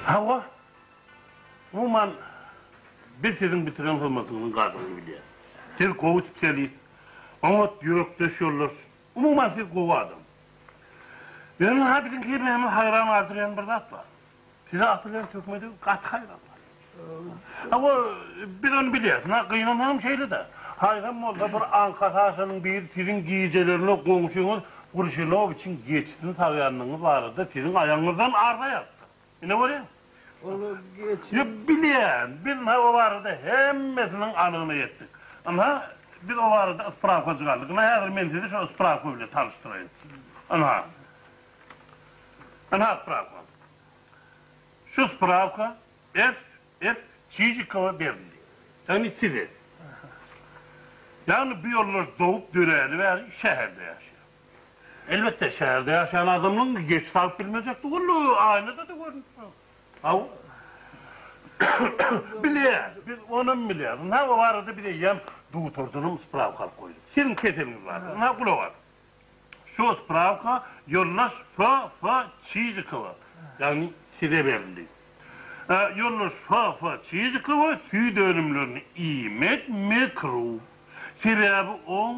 Hawa, umuman, biz siziň bitiren hyzmatyňyzyň gadyryny bilýäris. Siz gowy spesialist, Oňat ýürekdeş ýoldaş. Umuman siz gowy adam. Ýöne ha biziň hemmämiň haýran galdyryýan bir zat bar. Size aty bilen töhmedi gaty haýran galýar. Hawa biz ony bilýäs. Na gynansagam şeýle-de. Haýran bolsa bir aňka saşanyň biri siziň gijelerine goňşyňyz Grşinowiçiň geçisini sagýandygyňyz barada siziň aýagyňyzdan arza ýazypdyr. Ine görýäň. Olar geçen. Ýok, bilýän. Biz ynha o barada hemmesiniň anygyna ýetdik. Ynha, biz o barada ysprawka çykardyk. Ynha, häzir men sizi şo ysprawka bilen tanyşdyraýyn. Ynha. Ynha ysprawka. Şu ysprawka S. S. Çijikowa berildi. Ýagny size. Ýagny bu ýoldaş dogup döräli bäri şäherde ýaşaýar. Elbetde, şäherde ýaşaýan adamlaň geç salyp bilmejek dogany aýnada-da görnüp dur. Hawa. Bilýär, biz onam bilýäris. Ynha, o barada biz eýýäm dutardanam sprawka alyp goýduk. Siziň keseliňiz bardyr. Ynha, gulak as. Şu sprawka ýoldaş F. F. Çižikowa, ýagny size berildi. Ýoldaş F. F. Çižikowa süýt önümlerini iýmek mekruh. Sebäbi oň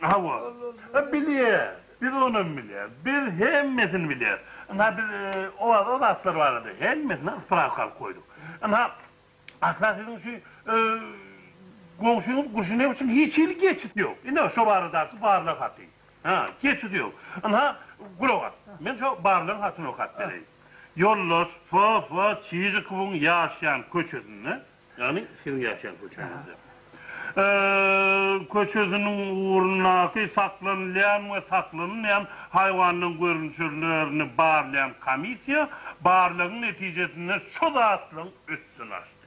Hawa. Bilýär. Biz onam bilýäris. Biz hemmesini bilýäris. Ynha, biz owaza o zatlar barada hemmesine spravka alyp goýduk. Ynha, asla siziň şu goňşyňyz Guşinew üçin hiç hili geçit ýok. Ine, şo baradaky barlag haty. Hä, geçit ýok. Ynha, gulak as. Men şo barlagyň hatyny okap bereýin. Ýoldaş Fo-Fo Çižikowyň ýaşaýan köçesinde Ýagny siziň ýaşaýan köçeňizde. Köçesiniň ugrundaky saklanylýan we saklanylmaýan haýwanlaryň görnüşlerini barlaýan komissiýa barlagyň netijesinde şu zatlaryň üstüni açdy.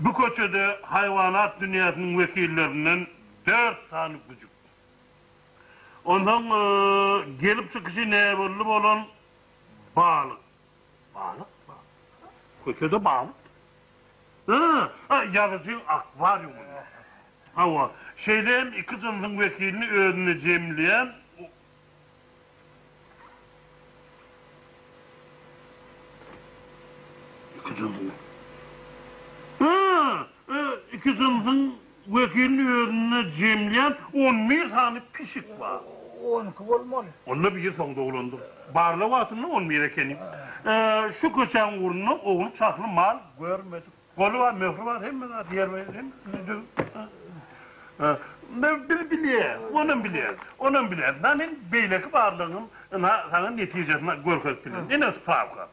Bu köçede haýwanat dünýäsiniň wekillerinden dört sany güjük. Onsoň gelip çykyşy näbelli bolan balyk. Balyk bar. Köçede balyk ýok. Ýa, ýazyjyň akwariumynda. Hawa, şeýle hem iki jynsyň wekilini özünde jemleýän Iki jynsyň. Iki jynsyň. Wekiliň özünde jemlem on bir sany pişik bar. On iki bolmaly. Onda biri soň doglandyr. Barlag wagtynda on bir ekeni. Şu köçäň ugrunda ogly çahly mal görmedik. Goly bar, möhri bar, hemme zat ýerbe-ýer, hemmesini döwüp. Biz bilýäs, onam bilýär, onam bilýär. Ynha, men beýleki barlagyň ynha saňa netijesini görkezip bilerin. Ine, sprawka.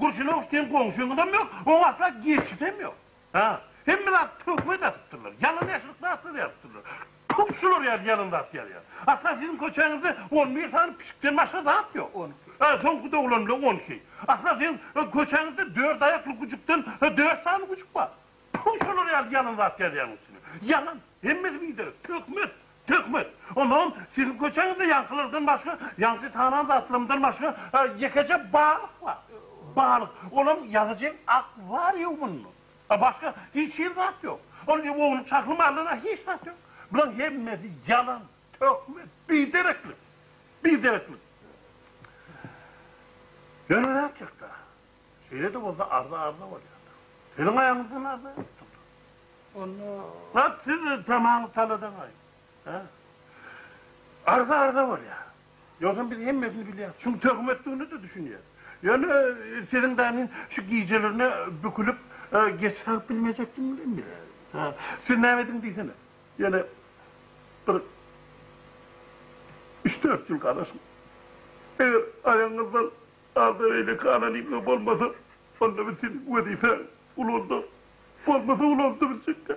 Gurşunow seň goňşyňňam ýok, oň asla geçidem ýok. Ha, hemme zat töhmet atypdyrlar, ýalan ýaşylyk zatlar ýazypdyrlar. Tup şular ýaly ýalan zat ýazýar. Asla siziň köçäňizde on bir sany pişikden başga zat ýok. On iki. Ha, soňky doglan bilen on iki. Asla siziň köçäňizde dört aýakly gujukdan dört sany gujuk bar. Tfu şolar ýaly ýalan zat ýazýaň üstüne. Ýalan. Hemmesi biderek. Töhmet. Töhmet. Onam siziň köçeňizde ýaňkylardan başga, ýaňky tanan zatlarymdan başga ýekeje balyk bar. Balyk. Olam ýazyjyň akwarýumynda. Başga hiç hili zat ýok. Ol ýuwunlyk şahly malynda hiç zat ýok. Bulaň hemmesi ýalan, töhmet, bidereklik. Bidereklik. Ýöne nätjekda. Şeýle-de bolsa arza arza bolýandyr. Siziň aýaňyzdan arza ýokdur. Onda Wah, siz tamaňyz taladaňaý. Hä? Arza arza bolýar. Ýogsam biz hemmesini bilýäris. Şuň töhmetdigine-de düşünýäris. Ýöne siziň danin şu gijelerine bükülip geç salyp bilmejekdigiňizi hem bilýäris. Hä? Siz näme ediň diýsene. Ýene bir üç-dört ýyl galasyň. Eger aýagyňyzdan Agza eýleki anonimler bolmasa, onda biz seniň wezipäňi ulandyk. Bolmasa ulandy biljekkä.